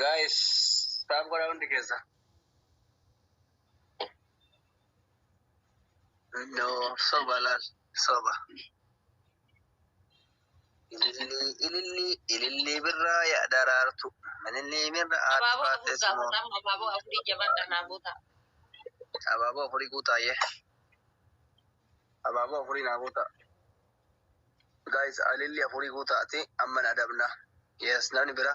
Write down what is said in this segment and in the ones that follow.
Guys, taab godhaa hundi keessa. No, soba laal, soba. Ilillii, ilillii, ilillii birraa yaa daraartu. Ilillii birra aarti Abaaboo afur faatees moo. gaafata amma abaaboo afurii jabaadha naa guuta. Abaaboo afurii guutaa yee. Abaaboo afurii naa guutaa. Guys, ilillii afurii guutaati. Amma na adabna. Yes, namni bira.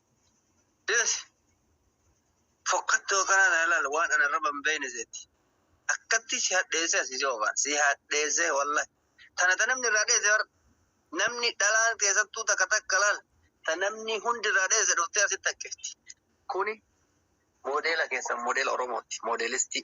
Deesi! Fokkattuu akkanaa tana ilaali waan ana irra hin beekne seetti. Akkatti si hadheessee asii si oofaan. Si hadheessee wallahi. Tana ta namni irraa dheesse bar. Namni dhalaan keessattuu takka takka laal. Ta namni hundi irraa dheesse dhuftee asitti haqqifti. Kuni moodeela keessan moodeela Oromooti. Moodeelistii.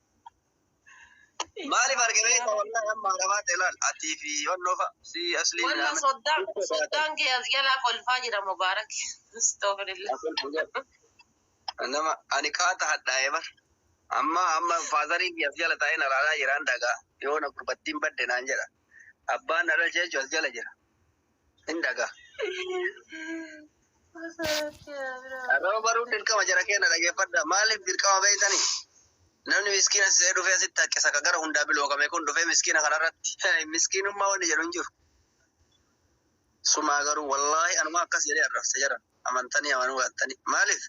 Maaliif arge beekta wallahi amma haramaa ta'e laal atii fi wannoo fa'a si asliin Walla ilaamin. soddaan soddaan kee as jalaa kolfaa jira mubaarak. Astagfirullah. Nama ani qaata hadhaa'e bar. Amma amma faazarii fi as jala taa'ee na laalaa jiraan dhagaa. Yoo na gurbattiin badde naan jedha. Abbaan na dhalche jechuun as jala jira. hin dhaga. Arraba baruun dirqama jara keenya dhageeffadha. Maaliif dirqama beektani? Namni miskiina sisee dhufee asitti haqqisa ka gara hundaa bilookame kun dhufee miskiina kanarratti miskiinummaa wanni jedhu hin jiru. Sumaa garuu wallaahi anuma akkas jedhee arrabsa jara. amantanii amanuu baattanii maaliif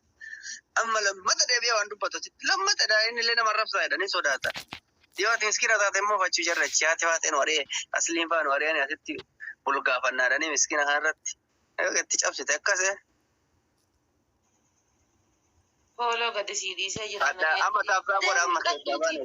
amma lammata deebi'ee waan dubbatutti lammata dha inni illee nama arrabsaa jedhanii sodaata. Yoo ati miskiina taate immoo fachuu jarrachi haati faatee nu ari'ee asliin faa nu ari'anii asitti bulgaafannaadhanii miskiina kanarratti yoo gatti cabsite akkas eh. Hooloo gadi sii dhiisee jira. Adda amma taafraa godha amma keessaa baana.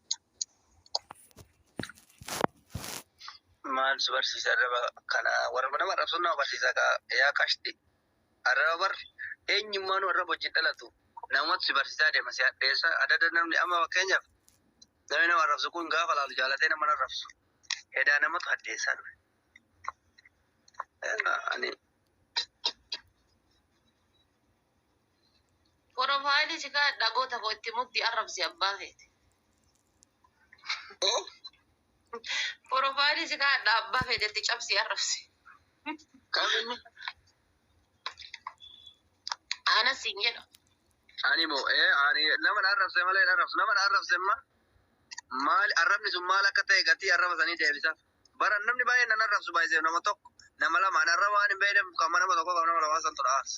Maal si barsiise arraba kana warra nama arrabsuun nama barsiisa ka yaa qashti arraba bar eenyummaanuu arraba wajjin dhalatu namatu si barsiisaa deema si hadheessa adada namni amma fakkeenyaaf namni nama arrabsu kun gaafa laalu jaalatee nama hin arrabsu hedaa namatu hadheessaa dhufe. Ani Porofaayilii si kaa'e dhagoota koo itti muddi arrabsi abbaa keeti. Porofaayilii si kaa'e abbaa keeti itti cabsi arrabsi. Kaminni Aana siin jedha. ani moo ee ani nama na arrabse malee hin arrabsu nama na arrabse imma maal arrabni sun maal akka ta'e gatii arraba sanii deebisaaf. Bara namni baay'een nan arrabsu baay'isee nama tokko nama lama an arraba waan hin beekneef kan nama tokko kan nama lamaa santu na aarsa.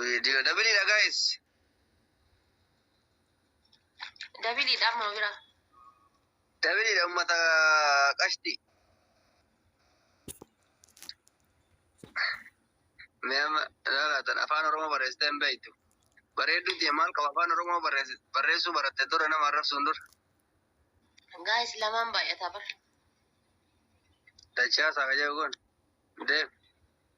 Video dabili da guys. Dabili da amma bira. Dabili da ummata qashti. Meema laatan afaan Oromoo barreessitee hin beektu. Bareedduu ta'e maal qaba afaan Oromoo barreessuu baratte dura nama arrabsuun dura. Guys lamaan baay'ataa bara. Dachaa saakaja kun. Deem.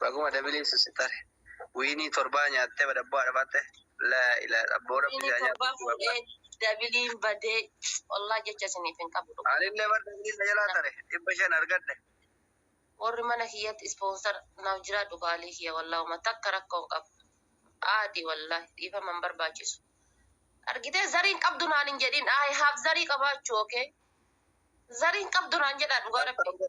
Baguma dabilii susi tare. Wiinii torbaa nyaattee badabboo haadha baatte laa ilaa abboo rabbi si haa nyaatu Torbaa fuudhee babbaa. dabiliin badee wallaah jecha isiniif hin qabu dhugaa. Anillee bar dabilii na jalaa tare dhibba shan argadhe. Worri mana kiyyatti ispoonsar naaf jiraadhu qaalii kiyya wallaah homa takka rakkoo hin qabu aadi wallaah dhiifama hin barbaachisu argitee zarii hin qabdu naan hin jedhin I have zarii qabaachuu ok zarii hin qabdu naan jedhaa dhugaa rabbii.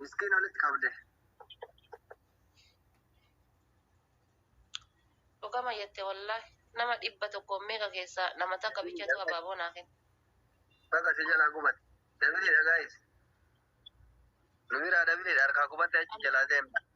Miskiin olitti qabde. Dhugama jette wallahi. Nama dhibba tokkoon meeqa keessaa nama takka bichatu abaaboo naa kenna. Baga si jalaa gubate. Dabiliidha gaayis. Nu biraa dabiliidha harkaa gubatte achi jalaa seenna.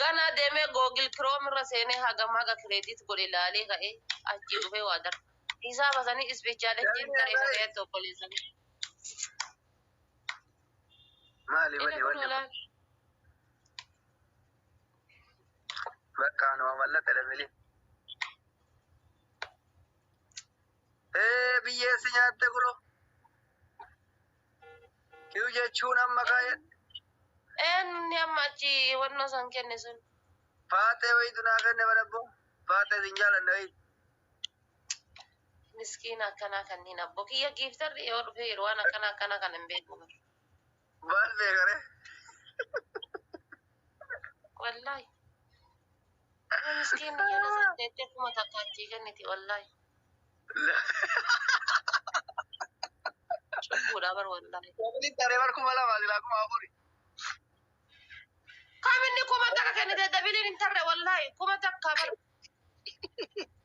Ganaa demee google chrome irra seenee hagam haga credit godhe laalee ka'ee achii dhufee waa darba. Hisaaba sanii ispichaala jiin taree dhagayatti obboleessa koo. Maali Inni bani kun wanni kun? olaal. Bakka anuma mallaqa dabali. Ee biyyeessi nyaatte kulo. Kiyu jechuun amma kaayadhe. Eenni amma achi wannoo san kenne sun. Faaxee wayitu naa kenne badabbo. Faaxee sin jaalanna wayi. Miskiina akkanaa kanniin abbo kiyya giiftarri yoo dhufe jiru waan akkana akkana kan hin beeku. Maal beekare? Wallaahi. Yoo miskiin biyya nasaa deettee kuma takka achii kenniti wallaahi. Cubbuudha bar wallaahi. Wabili tare bar kuma lama sila kuma afuri. Kam inni kuma takka kennite dabiliin hin tarre wallaahi kuma takka bar.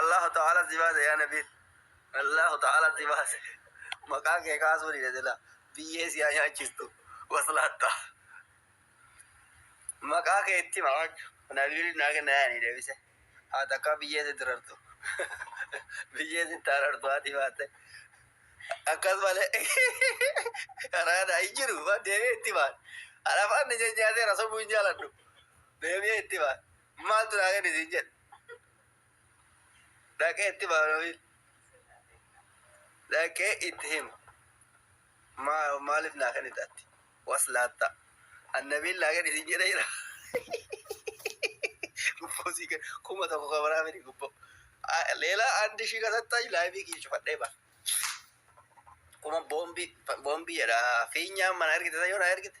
Allahu ta'ala si baase yaa nabi. Allahu ta'ala si baase. Maqaa kee kaasuu dide sila. Biyyee si haa nyaachistu. Waslaatta. Maqaa kee itti hima waaju. Nabiin naa kenna yaani deebise. Haa takkaa biyyee si dirartu. Biyyee si taarartu haati baate. Akkas malee. Karaa naa hin jiru. Deebee itti hima. Alafaan ni jajjaaseera sobuu hin jaaladhu. Deebi'ee itti hima. Maaltu naa kenni siin jedhe. Dhaqee itti hima namni. Dhaqee itti hima. Maa- Maaliif naa kenni taatti? Was laatta. Annabiin naa kenni siin jedhe jira. Gubboo sii kenni. Kuma tokko kan biraa miti gubboo. Ah, Leela andi ishii kasatta laayifii kiyya cufadhee ba. Kuma boombii boombii jedha. Fiinyaan mana ergite yoo na ergite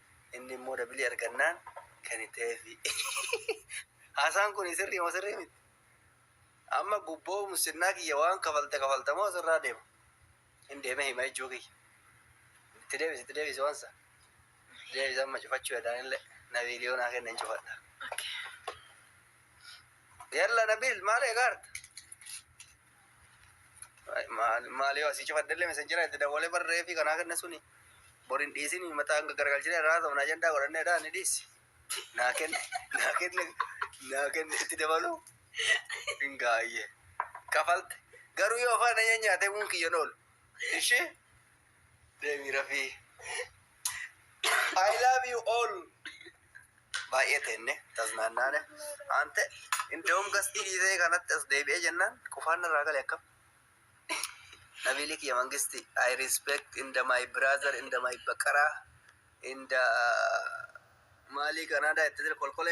Inni immoo dabilii argannaan kan itti ta'eefi. Haasaan kun sirrii moo sirrii miti? Amma gubboo musinnaa kiyya waan kafalte kafalta moo sirraa deema? Hin deemee hima jechuu kiyya. Itti deebisi itti deebisi waan sana. Deebisa amma cufachuu yadaan illee na viidiyoo naa kenna hin cufadha. Yalla Nabil maal eegaarta? Maalii asii cufadhellee messenjera itti dawwalee barree fi kanaa kenna suni boriin dhiisin mataa hanga garagalchine irraa ta'u naa jendaa godhannee dhaa ni dhiisi. Naa kenne naa kenne naa kenne itti dabaluu hin gaayye kafalte garuu yoo afaan na nyaate uun kiyyan oolu ishee Deemi rafii. I love you all. Baay'ee teenne tasnaannaane. Ante indawum gastii dhiisee kanatti as deebi'ee jennaan qufaan irraa gale akkam. Nabiili kiyya mangisti I respect in the my brother in the my baqaraa in the maalii kanaadaa itti kolkolee